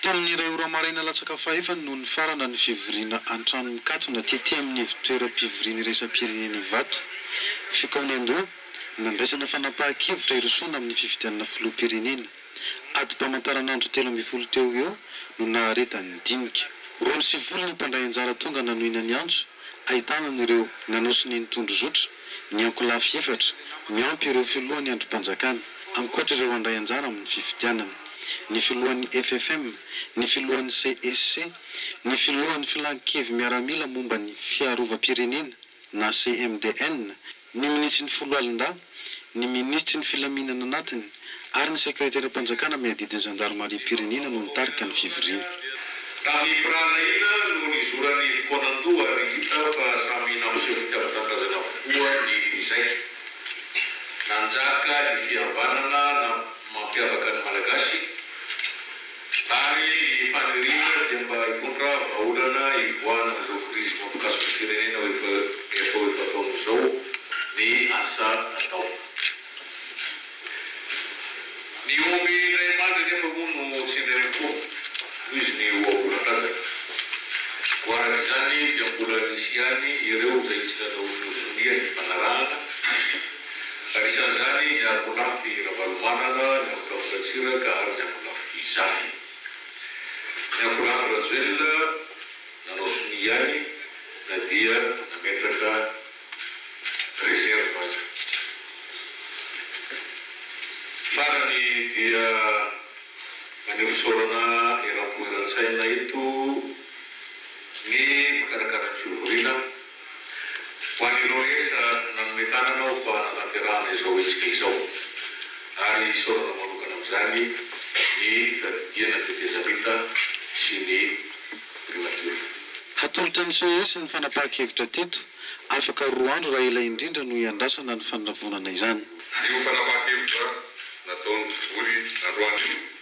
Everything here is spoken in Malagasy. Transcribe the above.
Tamin'ny iray ora maraina latsaka fahefany no nifarana ny fivoriana an-trano mikatona tety amin'ny ivontoeram-pivoriana iraisam-pirenena Ivato. Fikaonandoha, nandraisana fanapahan-kevitra hirosoana amin'ny fifidianana filoham-pirenena. Adim-pamantaranandro telo ambin'ny folo teo ho eo no naharetan'ny dinika. Roa sy folo ny mpandray anjara tonga nanohina ny antso, ahitana an'ireo nanao sy nino tondrozotra, ny ankolafy efatra, miampy ireo filohan'ny andrim-panjakana, ankoatra ireo handray anjara amin'ny fifidianana, ny filohan'ny FFM, ny filohan'ny CEC, ny filohan'ny Filan-kevimiaramila momba ny Fiarovam-pirenena na CMDN, ny minisitry ny Foloalindahy, ny minisitry ny Filaminana Anatiny ary ny sekreteram-panjakana miadidy ny zandarimariam-pirenena no nitarika ny fivoriana. Tamin'ny biranahiana no nizoran'ny fokoan'Andoha ary hita fa samy nampiseho fitiavan-tanindrazana avokoa ny mpizaika. Nanjaka ny fihavanana mampiavaka ny Malagasy. Ary ny faniriana dia mba hitondra vahaolana hivoahana amin'izao krizy mampikasoka ny firenena efa efa efa ataonao izao ny asa atao. Ny omby indray mandry anefa moa no tsy indray mifoha noho izy ny ohabolan-drazana. Koa araka izany dia mbola nisy ihany ireo izay tsy nanao ny ho sonia ny fifanarahana. Anisan'izany ny Ankolafy Ravalomanana, ny Ankolafy Ratsiraka ary ny Ankolafy Zafy. Ny Ankolafy Rajoelina nanao sonia ihany na dia nametraka réserve aza. Farany dia maneho fisaorana eram-po eran-tsaina eto ny mpikarakara ny fivoriana. Ho an'i Loes, nanome tanana aho fa nanaterahana izao hetsika izao ary isaorana manokana amin'izany ny Fiadidiana Tetezamita sy ny Primatiora. Hatolotra ny ces ny fanapahan-kevitra teto, afaka roa andro raha ela indrindra no hiandrasana ny fanavonana izany. Io fanapahan-kevitra nataon'ny Bory androany io